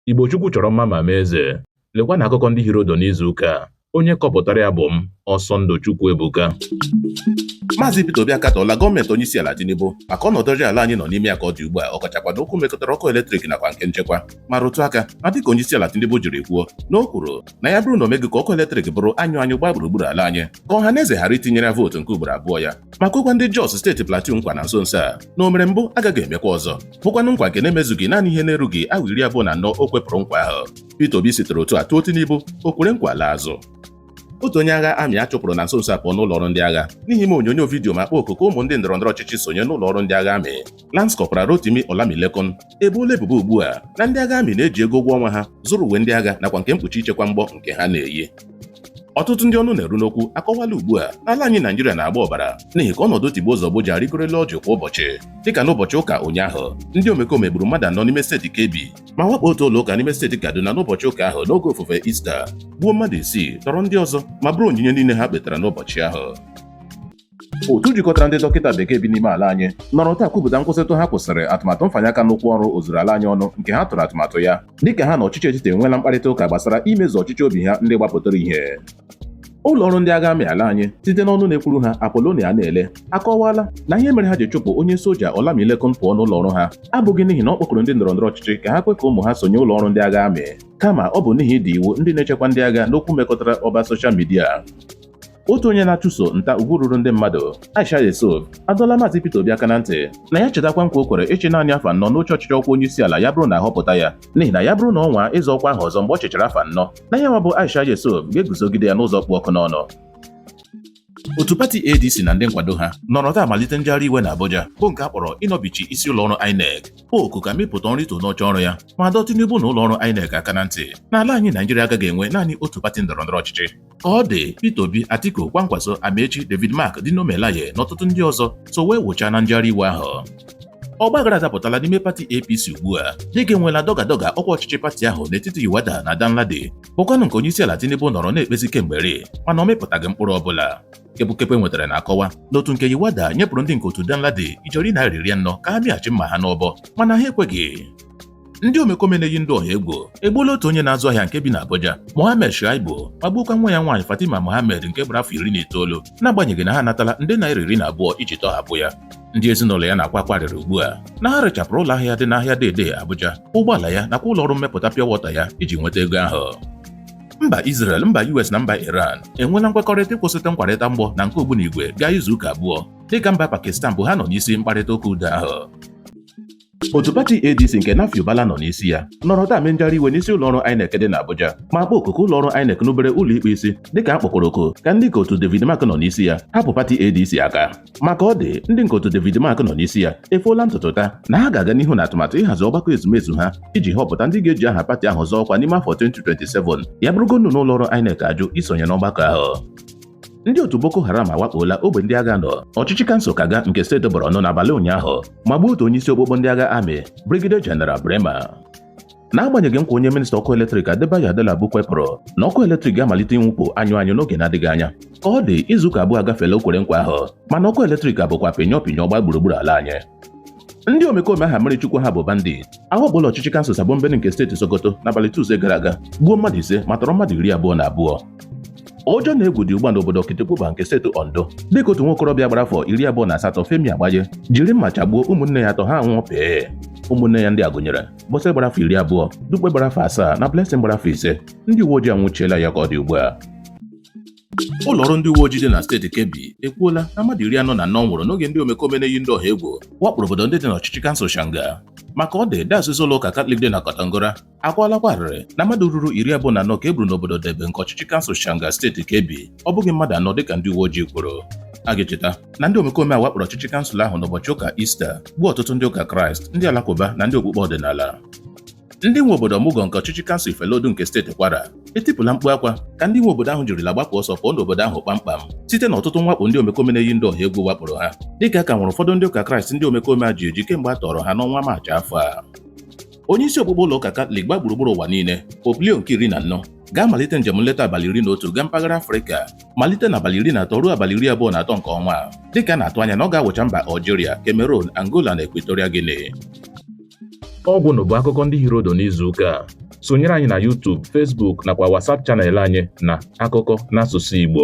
Igbo Chukwu chọrọ mma ma mee eze. Lekwanụ akụkọ ndị hịọrọ ụdụ n'izu ụka a. Onye kọpụtara ya bụ m, Ọsọndụ Chukwuebuka. Maazị Peter Obi akatọọla gọọmenti onyeisiala Tinubu maka ọnọdụ ọjọọ ala anyị nọ n'ime ya ka ọ dị ugbu a ọ kachakwa n'okwu mekọtara ọkụ eletrik nakwa nke nchekwa ma rụtụ aka na dịka onyeisiala Tinubu jiri kwuo na o kwuru na ya bụrụ na o meghị ka ọkụ eletrik bụrụ anyụ anyụ gbaa gburugburu ala anyị ka ọha na eze ghara itinyere ya vootu nke ugboro abụọ ya ma kwekwa ndị Jos steeti Plateau nkwa na nso nso a na o mere mbụ agaghị emekwa ọzọ bụkwanụ nkwa nke na-emezughị naanị ihe na-erughị awa iri abụọ na anọ o kwepụrụ nkwa ahụ Peter Obi sitere otu a tụọ Tinubu o kwere nkwa laa azụ otu onye agha amị a chụpụrụ na nso nso a pụọ n'ụlọ ọrụ ndị agha n'ihi ime onyonyo vidiyo ma kpọọ oku ka ụmụ ndị ndọrọndọrọ ọchịchị sonye n'ụlọ ọrụ ndị agha amị Lance Corporal Rotimi Olamilekan eboola ebubo ugbu a na ndị agha amị na-eji ego ụgwọ ọnwa ha zụrụ uwe ndị agha nakwa nke mkpuchi ichekwa mgbọ nke ha na-eyi ọtụtụ ndị ọnụ na-eru n'okwu akọwala ugbu a na ala anyị Naijiria na-agba ọbara n'ihi ka ọnọdụ tigbuo zọgbuo ji arịgoro elu ọjị kwa ụbọchị dịka n'ụbọchị ụka ụnyaahụ ndị omekome gburu mmadụ anọ n'ime steeti Kebbi ma wakpo otu ụlọ ụka n'ime steeti Kaduna n'ụbọchị ụka ahụ n'oge ofufe Ista gbuo mmadụ isii tọrọ ndị ọzọ ma buru onyinye niile ha kpetara n'ụbọchị ahụ otu jikọtara ndị dọkịta bekee bi n'ime ala anyị nọrọ taa kwupụta nkwụsịtụ ha kwụsịrị atụmatụ mfanye aka n'ụkwụ ọrụ ozuru ala anyị ọnụ nke ha tụrụ atụmatụ ya dịka ha na ọchịchị etiti enweela mkparịta ụka gbasara imezu ọchịchọ obi ha ndị gbapụtara ihe ụlọ ọrụ ndị agha amị ala anyị site n'ọnụ na-ekwuru ha apolonia anele akọwaala na ihe mere ha ji chụpụ onye soja olamilekan pụọ n'ụlọ ọrụ ha abụghị n'ihi na ọ kpọkuru ndị ndọrọ ndọrọ ọchịchị ka ha kwe ka ụmụ ha sonye ụlọ ọrụ ndị agha amị kama ọ bụ n'ihi ịda iwu ndị na-echekwa ndị agha n'okwu mekọtara ọwa soshal midia otu onye na-achụso nta ugwu ruru ndị mmadụ Aisha Yusuf adọla maazị Peter Obi aka na ntị na ya chetakwa nkwa o kwere ịchị naanị afọ anọ n'oche ọchịchị ọkwa onye isi ala ya bụrụ na a họpụta ya n'ihi na ya bụrụ na ọ nwaa ịzọ ọkwa ahụ ọzọ mgbe ọ chịchara afọ anọ na ya nwa bụ Aisha Yusuf ga-eguzogide ya n'ụzọ kpụ ọkụ n'ọnụ otu pati ADC na ndị nkwado ha nọrọ taa malite njegharị iwe na Abuja bụ nke a kpọrọ ịnọbichi isi ụlọọrụ INEC oku ka Amupitan rituo n'oche ọrụ ya ma dọọ Tinubu na ụlọọrụ INEC aka na ntị na ala anyị Naijiria agaghị enwe naanị otu pati ndọrọndọrọ ọchịchị Ka ọ dị, Peter Obi, Atiku, Kwankwaso, Amaechi, David Mark, Dino Melaye na ọtụtụ ndị ọzọ so wee wụchaa na njegharị iwe ahụ. Ọgbaghara adapụtala n'ime pati APC ugbu a dịka e nweela dọgadọga ọkwa ọchịchị pati ahụ n'etiti Yilwatda na Danladi bụkwanụ nke onyeisiala Tinubu nọrọ na-ekpezi kemgbe eri mana ọ mịpụtaghị mkpụrụ ọbụla. Kepukepu e nwetara na-akọwa na otu nke Yilwatda nyepụrụ ndị nke otu Danladi ijeri naira iri anọ ka ha mịghachi mma ha n'ọbọ mana ha ekweghị. ndị omekome na-eyi ndụ ọha egwu egbuola otu onye na-azụ ahịa nke bi n'Abuja Mohammed Shaibu ma gbuokwa nwa ya nwaanyị Fatima Mohammed nke gbara afọ iri na itoolu n'agbanyeghị na ha anatala nde naira iri na abụọ iji tọhapụ ya ndị ezinụlọ ya na-akwa akwa arịrị ugbu a na ha rechapụrụ ụlọ ahịa dị n'ahịa Dei-Dei Abuja ụgbọala ya nakwa ụlọ ọrụ mmepụta pịa wọta ya iji nweta ego ahụ mba Israel mba US na mba Iran enweela nkwekọrịta ịkwụsịtụ nkwarịta mgbọ na nke ogbunigwe gaa izu ụka abụọ dịka mba Pakistan bụ ha nọ n'isi mkparịta ụka udo ahụ otu pati ADC nke Nafiu Bala nọ n'isi ya nọrọ taa mee njegharị iwe n'isi ụlọọrụ INEC dị n'Abuja ma kpọọ oku ka ụlọọrụ INEC rubere ụlọikpe isi dịka a kpọkwara oku ka ndị nke otu David Mark nọ n'isi ya hapụ pati ADC aka ma ka ọ dị ndị nke otu David Mark nọ n'isi ya efoola ntutu taa na ha ga-aga n'ihu n'atụmatụ ịhazi ọgbakọ ezumezu ha iji họpụta ndị ga-eji aha pati ahụ zọọ ọkwa n'ime afọ 2027 ya bụrụgodu na ụlọọrụ INEC ajụ isonye n'ọgbakọ ahụ ndị otu Boko Haram awakpola ogbe ndị agha n'ọchịchị kansụl Kaga nke steeti Borno n'abalị ụnyaahụ ma gbuo otu onye isi okpokpo ndị agha amị Brigadier General Braimah n'agbanyeghị nkwa onye minista ọkụ eletrik Adebayo Adelabu kwepụrụ na ọkụ eletrik ga-amalite inwupụ anyụ anyụ n'oge na-adịghị anya ka ọ dị izuụka abụọ agafeela o kwere nkwa ahụ mana ọkụ eletrik abụkwa pịnyọ pịnyọ gba gburugburu ala anyị ndị omekome aha mmiri chukwu ha bụ bandit awakpola ọchịchị kansụl Sabon Birni nke steeti Sokoto n'abalị Tuesday gara aga gbuo mmadụ ise ma tọrọ mmadụ iri abụọ na abụọ ụjọ na egwu dị ugbu a n'obodo Okitipupa nke steeti Ondo dịka otu nwokorobịa gbara afọ iri abụọ na asatọ Femi Agbaje jiri mma chagbuo ụmụnne ya atọ ha nwụọ pee ụmụnne ya ndị a gụnyere Bose gbara afọ iri abụọ Dupe gbara afọ asaa na Blessing gbara afọ ise ndị uwe ojii anwụchiela ya ka ọ dị ugbu a ụlọọrụ ndị uwe ojii dị na steeti Kebbi ekwuola na mmadụ iri anọ na anọ nwụrụ n'oge ndị omekome na-eyi ndị ọha egwu wakporo obodo ndị dị n'ọchịchị kansụl Shanga ma ka ọ dị dayọsis ụlọ ụka Katọlik dị na Kontagora akwala akwa arịrị na mmadụ ruru iri abụọ na anọ ka e gburu n'obodo Debe nke ọchịchị kansụl Shanga steeti Kebbi ọ bụghị mmadụ anọ dịka ndị uwe ojii kwuru a ga-echeta na ndị omekome a wakporo ọchịchị kansụl ahụ n'ụbọchị ụka Ista gbuo ọtụtụ ndị ụka Kraịst ndị Alakụba na ndị okpukpe ọdịnala ndị nwe obodo Omugo nke ọchịchị kansụl Ifelodun nke steeti Kwara etipụla mkpu akwa ka ndị nwe obodo ahụ jirila gbapụ ọsọ pụọ n'obodo ahụ kpamkpam site na ọtụtụ mwakpo ndị omekome na-eyi ndị ọha egwu wakporo ha dịka a ka nwere ụfọdụ ndị ụka Kraịst ndị omekome a ji eji kemgbe a tọrọ ha n'ọnwa Maachị afọ a onye isi okpukpe ụlọ ụka Katọlik gba gburugburu ụwa niile Pope Leo nke iri na anọ ga-amalite njem nleta abalị iri na otu gaa mpaghara Afrịka malite na abalị iri na atọ ruo abalị iri abụọ na atọ nke ọnwa a dịka a na-atụ anya na ọ ga-awụcha mba Algeria, Cameroon, Angola na Equatorial Guinea ọgwụnụ bụ akụkọ ndị hiri odo n'izu ụka a sonyere anyị na YouTube, Facebook nakwa WhatsApp chanel anyị na akụkọ n'asụsụ Igbo